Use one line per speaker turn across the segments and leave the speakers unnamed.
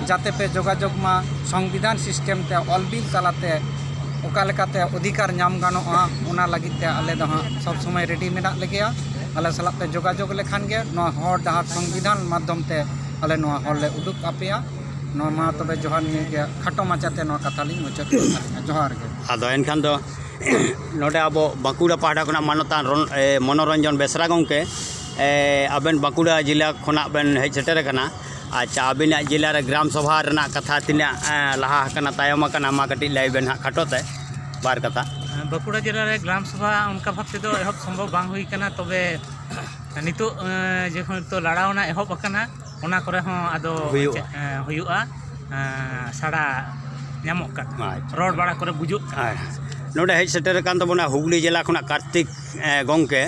ᱡᱟᱛᱮ ᱯᱮ ᱡᱳᱜᱟᱡᱳᱜᱽ ᱢᱟ ᱥᱚᱝᱵᱤᱫᱷᱟᱱ ᱥᱤᱥᱴᱮᱢ ᱛᱮ ᱚᱞ ᱵᱤᱞ ᱛᱟᱞᱟᱛᱮ ᱚᱠᱟ ᱞᱮᱠᱟᱛᱮ ᱚᱫᱷᱤᱠᱟᱨ ᱧᱟᱢ ᱜᱟᱱᱚᱜᱼᱟ ᱚᱱᱟ ᱞᱟᱹᱜᱤᱫ ᱛᱮ ᱟᱞᱮ ᱫᱚ ᱦᱟᱸᱜ ᱥᱚᱵ ᱥᱚᱢᱚᱭ ᱨᱮᱰᱤ ᱢᱮᱱᱟᱜ ᱞᱮᱜᱮᱭᱟ ᱟᱞᱮ ᱥᱟᱞᱟᱜ ᱯᱮ ᱡᱳᱜᱟᱡᱳᱜᱽ ᱞᱮᱠᱷᱟᱱ ᱜᱮ ᱱᱚᱣᱟ ᱦᱚᱨ ᱰᱟᱦᱟᱨ ᱥᱚᱝᱵᱤᱫᱷᱟᱱ ᱢᱟᱫᱽᱫᱷᱚᱢ ᱛᱮ ᱟᱞᱮ ᱱᱚᱣᱟ ᱦᱚᱨ ᱞᱮ ᱩᱫᱩᱜ ᱟᱯᱮᱭᱟ ᱱᱚᱣᱟ ᱢᱟ ᱛᱚᱵᱮ ᱡᱚᱦᱟᱨ ᱱᱤᱭᱟᱹ ᱜᱮ ᱠᱷᱟᱴᱚ ᱢᱟᱪᱷᱟᱛᱮ ᱱᱚᱣᱟ ᱠᱟᱛᱷᱟ ᱞᱤᱧ ᱢᱩᱪᱟᱹᱫ ᱠᱮᱫ ᱛᱟᱹᱞᱤᱧᱟ ᱡᱚᱦᱟᱨ ᱜᱮ ᱟᱫᱚ ᱮᱱᱠᱷᱟᱱ ᱫᱚ
ᱱᱚᱰᱮ ᱟᱵᱚ ᱵᱟᱸᱠᱩᱲᱟ ᱯᱟᱦᱴᱟ ᱠᱷᱚᱱᱟᱜ ᱢᱟᱱᱚᱛᱟᱱ ᱢᱚᱱᱳᱨᱚᱧᱡᱚᱱ ᱵᱮᱥᱨᱟ ᱜᱚᱢᱠᱮ ᱟᱵᱮᱱ ᱵᱟᱸᱠᱩᱲᱟ ᱡᱮᱞᱟ ᱠᱷᱚᱱᱟᱜ ᱵᱮᱱ ᱦᱮᱡ ᱥᱮᱴᱮᱨ ᱟᱠᱟᱱᱟ ᱟᱪᱪᱷᱟ ᱟᱹᱵᱤᱱᱟᱜ ᱡᱮᱞᱟ ᱨᱮ ᱜᱨᱟᱢ ᱥᱚᱵᱷᱟ ᱨᱮᱱᱟᱜ ᱠᱟᱛᱷᱟ ᱛᱤᱱᱟᱹᱜ ᱞᱟᱦᱟ ᱟᱠᱟᱱᱟ ᱛᱟᱭᱚᱢ ᱟᱠᱟᱱᱟ ᱢᱟ ᱠᱟᱹᱴᱤᱡ ᱞᱟᱹᱭ ᱵᱮᱱ ᱦᱟᱸᱜ ᱠᱷᱟᱴᱚ ᱛᱮ ᱵᱟᱨ ᱠᱟᱛᱷᱟ ᱵᱟᱸᱠᱩᱲᱟ ᱡᱮᱞᱟ ᱨᱮ
ᱜᱨᱟᱢ ᱥᱚᱵᱷᱟ ᱚᱱᱠᱟ ᱵᱷᱟᱵᱽ ᱛᱮᱫᱚ ᱮᱦᱚᱵ ᱥᱚᱢᱵᱷᱚᱵᱽ ᱵᱟᱝ ᱦᱩᱭ ᱠᱟᱱᱟ ᱛᱚᱵᱮ ᱱᱤᱛᱚᱜ ᱡᱮᱦᱮᱛᱩ ᱞᱟᱲᱟᱣᱱᱟ ᱮᱦᱚᱵ ᱟᱠᱟᱱᱟ ᱚᱱᱟ ᱠᱚᱨᱮ ᱦᱚᱸ ᱟᱫᱚ ᱦᱩᱭᱩᱜᱼᱟ ᱦᱩᱭᱩᱜᱼᱟ ᱥᱟᱲᱟ ᱧᱟᱢᱚᱜ ᱠᱟᱱᱟ ᱟᱪᱪᱷᱟ ᱨᱚᱲ ᱵᱟᱲᱟ ᱠᱚᱨᱮ ᱵᱩᱡᱩᱜ ᱠᱟᱱᱟ ᱦᱮᱸ ᱱᱚᱰᱮ ᱦᱮᱡ ᱥᱮᱴᱮᱨ
ᱟᱠᱟᱱ ᱛᱟᱵᱚᱱᱟ ᱦᱩᱜᱽᱞᱤ ᱡᱮᱞᱟ ᱠᱷᱚᱱᱟᱜ ᱠᱟᱨᱛᱤᱠ ᱜᱚᱢᱠᱮ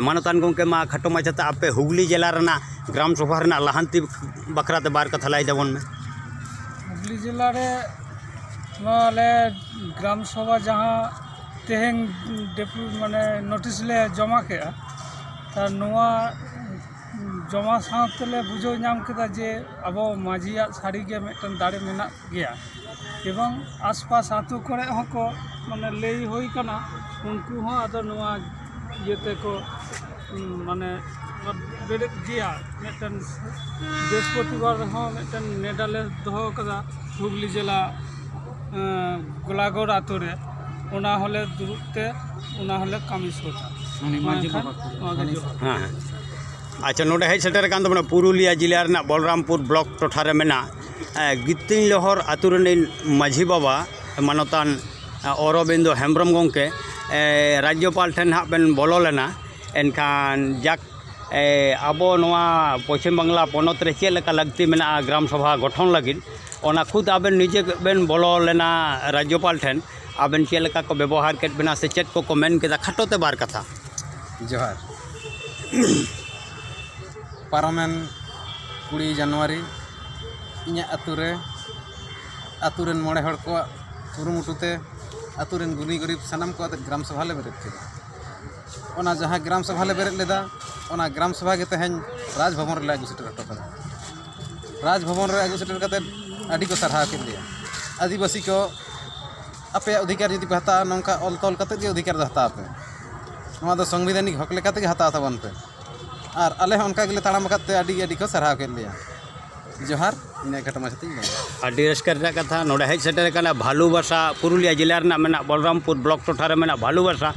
ᱢᱟᱱᱚᱛᱟᱱ ᱜᱚᱢᱠᱮ ᱢᱟ ᱠᱷᱟᱴᱚ ᱢᱟᱪᱷᱟᱛᱮ ᱟᱯᱮ ᱦᱩᱜᱽᱞᱤ ᱡᱮᱞᱟ ᱨᱮᱱᱟᱜ ᱜᱨᱟᱢ ᱥᱚᱵᱷᱟ ᱨᱮᱱᱟᱜ ᱞᱟᱦᱟᱱᱛᱤ ᱵᱟᱠᱷᱨᱟ ᱛᱮ ᱵᱟᱨ ᱠᱟᱛᱷᱟ ᱞᱟᱹᱭ ᱛᱟᱵᱚᱱ ᱢᱮ ᱦᱩᱜᱽᱞᱤ
ᱡᱮᱞᱟ ᱨᱮ ᱱᱚᱣᱟ ᱟᱞᱮ ᱜᱨᱟᱢ ᱥᱚᱵᱷᱟ ᱡᱟᱦᱟᱸ ᱛᱮᱦᱮᱧ ᱰᱮᱯᱩ ᱢᱟᱱᱮ ᱱᱳᱴᱤᱥ ᱞᱮ ᱡᱚᱢᱟ ᱠᱮᱜᱼᱟ ᱛᱚ ᱱᱚᱣᱟ ᱡᱚᱢᱟ ᱥᱟᱶ ᱛᱮᱞᱮ ᱵᱩᱡᱷᱟᱹᱣ ᱧᱟᱢ ᱠᱮᱫᱟ ᱡᱮ ᱟᱵᱚ ᱢᱟᱹᱡᱷᱤᱭᱟᱜ ᱥᱟᱹᱨᱤᱜᱮ ᱢᱤᱫᱴᱟᱱ ᱫᱟᱲᱮ ᱢᱮᱱᱟᱜ ᱜᱮᱭᱟ ᱮᱵᱚᱝ ᱟᱥᱯᱟᱥ ᱟᱛᱳ ᱠᱚᱨᱮ ᱦᱚᱸᱠᱚ ᱢᱟᱱᱮ ᱞᱟᱹᱭ ᱦᱩᱭ ᱠᱟᱱᱟ ᱩᱱᱠᱩ ᱦᱚᱸ ᱟᱫᱚ ᱱᱚᱣᱟ ᱤᱭᱟᱹ ᱛᱮᱠᱚ ᱢᱟᱱᱮ ᱵᱮᱨᱮᱫ ᱜᱮᱭᱟ ᱢᱤᱫᱴᱮᱱ ᱵᱤᱨᱚᱥᱯᱚᱛᱤᱵᱟᱨ ᱨᱮᱦᱚᱸ ᱢᱤᱫᱴᱮᱱ ᱱᱮᱰᱟ ᱞᱮ ᱫᱚᱦᱚ ᱠᱟᱫᱟ ᱦᱩᱜᱽᱞᱤ ᱡᱮᱞᱟ ᱜᱳᱞᱟᱜᱚᱲ ᱟᱛᱳ ᱨᱮ ᱚᱱᱟ ᱦᱚᱸᱞᱮ ᱫᱩᱲᱩᱵ ᱛᱮ ᱚᱱᱟ ᱦᱚᱸᱞᱮ ᱠᱟᱹᱢᱤ ᱥᱟᱹᱛᱟ ᱢᱮᱱᱠᱷᱟᱱ
ᱱᱚᱣᱟ ᱜᱮ ᱡᱚᱦᱟᱨ ᱦᱮᱸ ᱦᱮᱸ ᱟᱪᱪᱷᱟ ᱱᱚᱰᱮ ᱦᱮᱡ ᱥᱮᱴᱮᱨ ᱟᱠᱟᱱ ᱛᱟᱵᱚᱱᱟ ᱯᱩᱨᱩᱞᱤᱭᱟᱹ ᱡᱮᱞᱟ ᱨᱮᱱᱟᱜ ᱵᱚᱞᱨᱟᱢᱯᱩᱨ ᱵᱞᱚᱠ ᱴᱚᱴᱷᱟ ᱨᱮ ᱢᱮᱱᱟᱜ ᱮᱸ, ᱜᱤᱛᱤᱧ ᱞᱚᱦᱚᱨ ᱟᱛᱳ ᱨᱮᱱᱤᱡ ᱢᱟᱹᱡᱷᱤ ᱵᱟᱵᱟ ᱢᱟᱱᱚᱛᱟᱱ ᱮᱸ, ᱚᱨᱚᱵᱤᱱᱫᱚ ᱦᱮᱢᱵᱨᱚᱢ ᱜᱚᱢᱠᱮ ᱮᱸ, ᱨᱟᱡᱽᱡᱚᱯᱟᱞ ᱴᱷᱮᱱ ᱦᱟᱸᱜ ᱵᱮᱱ ᱵᱚᱞᱚ ᱞᱮᱱᱟ ᱮᱱᱠᱷᱟᱱ ᱡᱟᱠ ᱟᱵᱚ ᱱᱚᱣᱟ ᱯᱚᱪᱷᱤᱢ ᱵᱟᱝᱞᱟ ᱯᱚᱱᱚᱛ ᱨᱮ ᱪᱮᱫ ᱞᱮᱠᱟ ᱞᱟᱹᱠᱛᱤ ᱢᱮᱱᱟᱜᱼᱟ ᱜᱨᱟᱢ ᱥᱚᱵᱷᱟ ᱜᱚᱴᱷᱚᱱ ᱞᱟᱹᱜᱤᱫ ᱚᱱᱟ ᱠᱷᱩᱫ ᱟᱵᱮᱱ ᱱᱤᱡᱮ ᱵᱮᱱ ᱵᱚᱞᱚ ᱞᱮᱱᱟ ᱨᱟᱡᱽᱡᱚᱯᱟᱞ ᱴᱷᱮᱱ ᱟᱵᱮᱱ ᱪᱮᱫ ᱞᱮᱠᱟ ᱠᱚ ᱵᱮᱵᱚᱦᱟᱨ ᱠᱮᱫ ᱵᱮᱱᱟ ᱥᱮ ᱪᱮᱫ ᱠᱚᱠᱚ ᱢᱮᱱ ᱠᱮᱫᱟ ᱠᱷᱟᱴᱚ ᱛᱮ ᱵᱟᱨ ᱠᱟᱛᱷᱟ ᱡᱚᱦᱟᱨ
ᱯᱟᱨᱚᱢᱮᱱ ᱠᱩᱲᱤ ᱡᱟᱱᱩᱣᱟᱨᱤ ᱤᱧᱟᱹᱜ ᱟᱹᱛᱩ ᱨᱮ ᱟᱹᱛᱩ ᱨᱮᱱ ᱢᱚᱬᱮ ᱦᱚᱲ ᱠᱚᱣᱟᱜ ᱠᱩᱨᱩᱢᱩᱴᱩ ᱛᱮ ᱟᱹᱛᱩ ᱨᱮᱱ ᱜᱩᱱᱤ ᱜᱩᱨᱤᱵᱽ ᱥᱟᱱᱟᱢ ᱠᱚ ᱟᱛᱮᱫ ᱜᱨᱟᱢ ᱥᱚᱵᱷᱟ ᱞᱮ ᱵᱮᱨᱮᱫ ᱠᱮᱫᱟ ᱚᱱᱟ ᱡᱟᱦᱟᱸ ᱜᱨᱟᱢ ᱥᱚᱵᱷᱟ ᱞᱮ ᱵᱮᱨᱮᱫ ᱞᱮᱫᱟ ᱚᱱᱟ ᱜᱨᱟᱢ ᱥᱚᱵᱷᱟ ᱜᱮ ᱛᱮᱦᱮᱧ ᱨᱟᱡᱽ ᱵᱷᱚᱵᱚᱱ ᱨᱮᱞᱮ ᱟᱹᱜᱩ ᱥᱮᱴᱮᱨ ᱦᱚᱴᱚ ᱠᱟᱫᱟ ᱨᱟᱡᱽ ᱵᱷᱚᱵᱚᱱ ᱨᱮ ᱟᱹᱜᱩ ᱥᱮᱴᱮᱨ ᱠᱟᱛᱮᱫ ᱟᱹᱰᱤ ᱠᱚ ᱥᱟᱨᱦᱟᱣ ᱠᱮᱫ ᱞᱮᱭᱟ ᱟᱹᱫᱤᱵᱟᱹᱥᱤ ᱠᱚ ᱟᱯᱮᱭᱟᱜ ᱚᱫᱷᱤᱠᱟᱨ ᱡᱩᱫᱤ ᱯᱮ ᱦᱟᱛᱟᱣᱟ ᱱᱚᱝᱠᱟ ᱚᱞ ᱛᱚᱞ ᱠᱟᱛᱮᱫ ᱜᱮ ᱚᱫᱷᱤᱠᱟᱨ ᱫᱚ ᱦᱟᱛᱟᱣ ᱯᱮ ᱱᱚᱣᱟ ᱫᱚ ᱥᱟᱝᱵᱤᱫᱷᱟᱱᱤᱠ ᱦᱚᱸᱠ ᱞᱮᱠᱟ ᱛᱮᱜᱮ ᱦᱟᱛᱟᱣ ᱛᱟᱵᱚᱱ ᱯᱮ ᱟᱨ ᱟᱞᱮ ᱦᱚᱸ ᱚᱱᱠᱟ ᱜᱮᱞᱮ ᱛᱟᱲᱟᱢ ᱟᱠᱟᱫ ᱛᱮ ᱟᱹᱰᱤ ᱟᱹᱰᱤ ᱠᱚ ᱥᱟᱨᱦᱟᱣ ᱠᱮᱫ ᱞᱮᱭᱟ ᱡᱚᱦᱟᱨ ᱤᱱᱟᱹ ᱠᱷᱟᱴᱚ ᱢᱟᱪᱷᱟ ᱛᱤᱧ ᱞᱟᱹᱭ ᱠᱮᱫᱟ ᱟᱹᱰᱤ ᱨᱟᱹᱥᱠᱟᱹ
ᱨᱮᱱᱟᱜ ᱠᱟᱛᱷᱟ ᱱᱚᱰᱮ ᱦᱮᱡ ᱥᱮᱴᱮᱨ ᱟᱠᱟᱱᱟ ᱵᱷᱟᱞᱩ ᱵᱟᱥᱟ ᱯᱩᱨᱩᱞᱤᱭᱟᱹ ᱡᱮᱞᱟ ᱨᱮᱱᱟᱜ ᱢᱮᱱᱟᱜ ᱵᱚᱞᱨᱟᱢᱯᱩᱨ ᱵᱞᱚᱠ ᱴᱚᱴᱷᱟ ᱨᱮ ᱢᱮᱱᱟᱜ ᱵᱷᱟᱞᱩ ᱵᱟᱥᱟ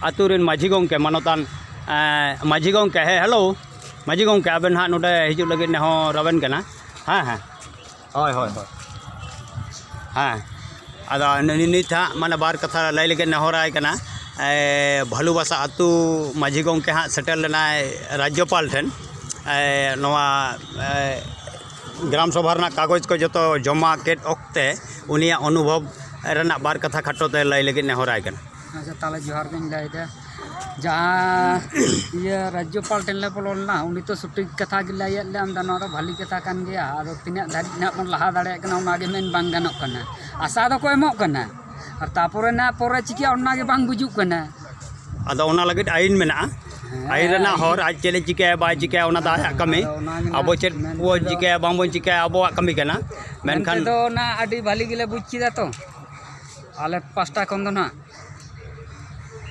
ᱟᱛᱳ ᱨᱮᱱ ᱢᱟᱹᱡᱷᱤ ᱜᱚᱢᱠᱮ ᱢᱟᱱᱚᱛᱟᱱ ᱢᱟᱹᱡᱷᱤ ᱜᱚᱢᱠᱮ ᱦᱮᱸ ᱦᱮᱞᱳ ᱢᱟᱹᱡᱷᱤ ᱜᱚᱢᱠᱮ ᱟᱵᱮᱱ ᱦᱟᱸᱜ ᱱᱚᱰᱮ ᱦᱤᱡᱩᱜ ᱞᱟᱹᱜᱤᱫ ᱱᱮᱦᱚᱨ ᱟᱵᱮᱱ ᱠᱟᱱᱟ ᱦᱮᱸ ᱦᱮᱸ ᱦᱳᱭ ᱦᱳᱭ ᱦᱳᱭ ᱦᱮᱸ ᱟᱫᱚ ᱱᱤᱛ ᱦᱟᱸᱜ ᱢᱟᱱᱮ ᱵᱟᱨ ᱠᱟᱛᱷᱟ ᱞᱟᱹᱭ ᱞᱟᱹᱜᱤᱫ ᱱᱮᱦᱚᱨᱟᱭ ᱠᱟᱱᱟ ᱵᱷᱟᱹᱞᱩ ᱵᱟᱥᱟ ᱟᱹᱛᱩ ᱢᱟᱹᱡᱷᱤ ᱜᱚᱢᱠᱮ ᱦᱟᱸᱜ ᱥᱮᱴᱮᱨ ᱞᱮᱱᱟᱭ ᱨᱟᱡᱽᱡᱚᱯᱟᱞ ᱴᱷᱮᱱ ᱱᱚᱣᱟ ᱜᱨᱟᱢ ᱥᱚᱵᱷᱟ ᱨᱮᱱᱟᱜ ᱠᱟᱜᱚᱡᱽ ᱠᱚ ᱡᱚᱛᱚ ᱡᱚᱢᱟ ᱠᱮᱫ ᱚᱠᱛᱮ ᱩᱱᱤᱭᱟᱜ ᱚᱱᱩᱵᱷᱚᱵᱽ ᱨᱮᱱᱟᱜ ᱵᱟᱨ ᱠᱟᱛᱷᱟ ᱠᱷᱟᱴᱚ ᱛᱮ ᱞᱟᱹᱭ ᱞᱟᱹᱜᱤᱫ ᱱᱮᱦᱚᱨᱟᱭ ᱠᱟᱱᱟ ᱟᱪᱪᱷᱟ ᱛᱟᱦᱚᱞᱮ ᱡᱚᱦᱟᱨ
ᱜᱤᱧ ᱞᱟᱹᱭᱮᱫᱟ ᱡᱟᱦᱟᱸ ᱤᱭᱟᱹ ᱨᱟᱡᱽᱡᱚᱯᱟᱞ ᱴᱷᱮᱱ ᱞᱮ ᱵᱚᱞᱚ ᱞᱮᱱᱟ ᱩᱱᱤ ᱛᱚ ᱥᱚᱴᱷᱤᱠ ᱠᱟᱛᱷᱟ ᱜᱮ ᱞᱟᱹᱭᱟᱫ ᱞᱮᱭᱟ ᱢᱮᱱᱫᱟ ᱱᱚᱣᱟ ᱫᱚ ᱵᱷᱟᱹᱞᱤ ᱠᱟᱛᱷᱟ ᱠᱟᱱ ᱜᱮᱭᱟ ᱟᱫᱚ ᱛᱤᱱᱟᱹᱜ ᱫᱷᱟᱹᱨᱤᱡ ᱱᱟᱦᱟᱜ ᱵᱚᱱ ᱞᱟᱦᱟ ᱫᱟᱲᱮᱭᱟᱜ ᱠᱟᱱᱟ ᱚᱱᱟᱜᱮ ᱢᱮᱱ ᱵᱟᱝ ᱜᱟᱱᱚᱜ ᱠᱟᱱᱟ ᱟᱥᱟ ᱫᱚᱠᱚ ᱮᱢᱚᱜ ᱠᱟᱱᱟ ᱟᱨ ᱛᱟᱨᱯᱚᱨᱮ ᱱᱟᱦᱟᱜ ᱯᱚᱨᱮ ᱪᱤᱠᱟᱹᱜᱼᱟ ᱚᱱᱟᱜᱮ ᱵᱟᱝ ᱵᱩᱡᱩᱜ ᱠᱟᱱᱟ ᱟᱫᱚ ᱚᱱᱟ
ᱞᱟᱹᱜᱤᱫ ᱟᱭᱤᱱ ᱢᱮᱱᱟᱜᱼᱟ ᱟᱭᱤᱱ ᱨᱮᱱᱟᱜ ᱦᱚᱨ ᱟᱡ ᱪᱮᱫ ᱮ ᱪᱤᱠᱟᱹᱭᱟ ᱵᱟᱭ ᱪᱤᱠᱟᱹᱭᱟ ᱚᱱᱟ ᱫᱚ ᱟᱭᱟᱜ ᱠᱟᱹᱢᱤ ᱟᱵᱚ ᱪᱮᱫ ᱵᱚᱱ ᱪᱤᱠᱟᱹᱭᱟ ᱵᱟᱝᱵᱚᱱ ᱪᱤᱠᱟᱹᱭᱟ ᱟᱵᱚᱣᱟᱜ ᱠᱟᱹᱢᱤ ᱠᱟᱱᱟ ᱢᱮᱱᱠᱷᱟᱱ ᱢᱮᱱᱛᱮ ᱫᱚ ᱚᱱᱟ ᱟᱹᱰᱤ
ᱵᱷᱟᱹᱞᱤ ᱜᱮᱞᱮ ᱵᱩᱡᱽ ᱠᱮᱫᱟ ᱛᱚ ᱟᱞᱮ ᱯᱟᱥᱴᱟ ᱠᱷᱚᱱ ᱫᱚ ᱦᱟᱸᱜ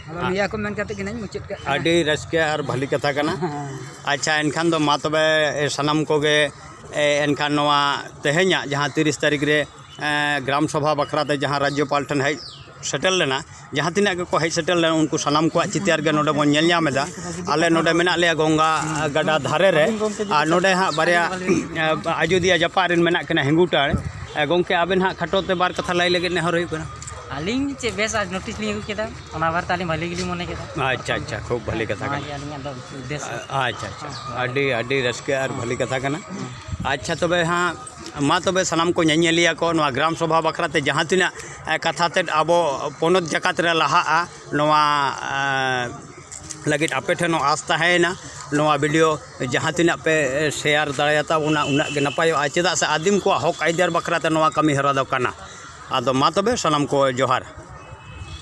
ᱟᱫᱚ ᱱᱤᱭᱟᱹ ᱠᱚ ᱢᱮᱱ ᱠᱟᱛᱮᱫ ᱜᱮ ᱦᱟᱸᱜ ᱤᱧ ᱢᱩᱪᱟᱹᱫ ᱠᱟᱜ ᱠᱟᱱᱟ ᱟᱹᱰᱤ ᱨᱟᱹᱥᱠᱟᱹ ᱟᱨ
ᱵᱷᱟᱹᱞᱤ ᱠᱟᱛᱷᱟ ᱠᱟᱱᱟ ᱟᱪᱪᱷᱟ ᱮᱱᱠᱷᱟᱱ ᱫᱚ ᱢᱟ ᱛᱚᱵᱮ ᱥᱟᱱᱟᱢ ᱠᱚᱜᱮ ᱮᱱᱠᱷᱟᱱ ᱱᱚᱣᱟ ᱛᱮᱦᱮᱧᱟᱜ ᱡᱟᱦᱟᱸ ᱛᱤᱨᱤᱥ ᱛᱟᱹᱨᱤᱠᱷ ᱨᱮ ᱜᱨᱟᱢ ᱥᱚᱵᱷᱟ ᱵᱟᱠᱷᱨᱟ ᱛᱮ ᱡᱟᱦᱟᱸ ᱨᱟᱡᱽᱡᱚᱯᱟᱞ ᱴᱷᱮᱱ ᱦᱮᱡ ᱥᱮᱴᱮᱨ ᱞᱮᱱᱟ ᱡᱟᱦᱟᱸ ᱛᱤᱱᱟᱹᱜ ᱜᱮᱠᱚ ᱦᱮᱡ ᱥᱮᱴᱮᱨ ᱞᱮᱱᱟ ᱩᱱᱠᱩ ᱥᱟᱱᱟᱢ ᱠᱚᱣᱟᱜ ᱪᱤᱛᱟᱹᱨ ᱜᱮ ᱱᱚᱰᱮ ᱵᱚᱱ ᱧᱮᱞ ᱧᱟᱢ ᱮᱫᱟ ᱟᱞᱮ ᱱᱚᱰᱮ ᱢᱮᱱᱟᱜ ᱞᱮᱭᱟ ᱜᱚᱝᱜᱟ ᱜᱟᱰᱟ ᱫᱷᱟᱨᱮ ᱨᱮ ᱟᱨ ᱱᱚᱰᱮ ᱦᱟᱸᱜ ᱵᱟᱨᱭᱟ ᱟᱡᱳᱫᱤᱭᱟᱹ ᱡᱟᱯᱟᱜ ᱨᱮᱱ ᱢᱮᱱᱟᱜ ᱠᱤᱱᱟ ᱦᱤᱝᱜᱩᱴᱟᱲ ᱜᱚᱢᱠᱮ ᱟᱵᱮᱱ ᱦᱟᱸᱜ ᱠᱷᱟᱴᱚ ᱛᱮ ᱵᱟᱨ ᱠᱟᱛᱷᱟ ᱞᱟᱹᱭ ᱞᱟᱹᱜᱤᱫ ᱱᱮᱦᱚᱨ ᱦᱩᱭᱩᱜ ᱠᱟᱱᱟ ᱟᱹᱞᱤᱧ ᱪᱮᱫ ᱵᱮᱥ
ᱟᱡ ᱱᱳᱴᱤᱥ ᱞᱤᱧ ᱟᱹᱜᱩ ᱠᱮᱫᱟ ᱚᱱᱟ ᱵᱟᱨᱮᱛᱮ ᱟᱹᱞᱤᱧ ᱵᱷᱟᱹᱞᱤ ᱜᱮᱞᱤᱧ ᱢᱚᱱᱮ ᱠᱮᱫᱟ ᱟᱪᱪᱷᱟ ᱟᱪᱪᱷᱟ ᱠᱷᱩᱵ ᱵᱷᱟᱹᱞᱤ
ᱠᱟᱛᱷᱟ ᱠᱟᱱᱟ ᱚᱱᱟᱜᱮ ᱟᱹᱞᱤᱧᱟᱜ ᱫᱚ ᱩᱫᱽᱫᱮᱥᱥᱚ ᱟᱪᱪᱷᱟ ᱟᱪᱪᱷᱟ ᱟᱹᱰᱤ ᱟᱹᱰᱤ ᱨᱟᱹᱥᱠᱟᱹ ᱟᱨ ᱵᱷᱟᱹᱞᱤ ᱠᱟᱛᱷᱟ ᱠᱟᱱᱟ ᱟᱪᱪᱷᱟ ᱛᱚᱵᱮ ᱦᱟᱸᱜ ᱢᱟ ᱛᱚᱵᱮ ᱥᱟᱱᱟᱢ ᱠᱚ ᱧᱮᱧᱮᱞᱤᱭᱟᱹ ᱠᱚ ᱱᱚᱣᱟ ᱜᱨᱟᱢ ᱥᱚᱵᱷᱟ ᱵᱟᱠᱷᱨᱟ ᱛᱮ ᱡᱟᱦᱟᱸ ᱛᱤᱱᱟᱹᱜ ᱠᱟᱛᱷᱟ ᱛᱮᱫ ᱟᱵᱚ ᱯᱚᱱᱚᱛ ᱡᱟᱠᱟᱛ ᱨᱮ ᱞᱟᱦᱟᱜᱼᱟ ᱱᱚᱣᱟ ᱞᱟᱹᱜᱤᱫ ᱟᱯᱮ ᱴᱷᱮᱱ ᱦᱚᱸ ᱟᱸᱥ ᱛᱟᱦᱮᱸᱭᱮᱱᱟ ᱱᱚᱣᱟ ᱵᱷᱤᱰᱤᱭᱳ ᱡᱟᱦᱟᱸ ᱛᱤᱱᱟᱹᱜ ᱯᱮ ᱥᱮᱭᱟᱨ ᱫᱟᱲᱮᱭᱟᱛᱟ ᱵᱚᱱᱟ ᱩᱱᱟᱹᱜ ᱜᱮ ᱱᱟᱯᱟᱭᱚᱜᱼᱟ ᱪᱮᱫᱟᱜ ᱥᱮ ᱟᱹᱫᱤᱢ ᱠᱚᱣᱟᱜ ᱦᱚᱸᱠ ᱟᱹᱭᱫᱟᱹᱨ ᱵᱟᱠᱷᱨᱟᱛᱮ ᱱᱚᱣᱟ ᱠᱟᱹᱢᱤᱦᱚᱨᱟ ᱫᱚ ᱠᱟᱱᱟ ᱟᱫᱚ ᱢᱟ ᱛᱚᱵᱮ ᱥᱟᱱᱟᱢ ᱠᱚ ᱡᱚᱦᱟᱨ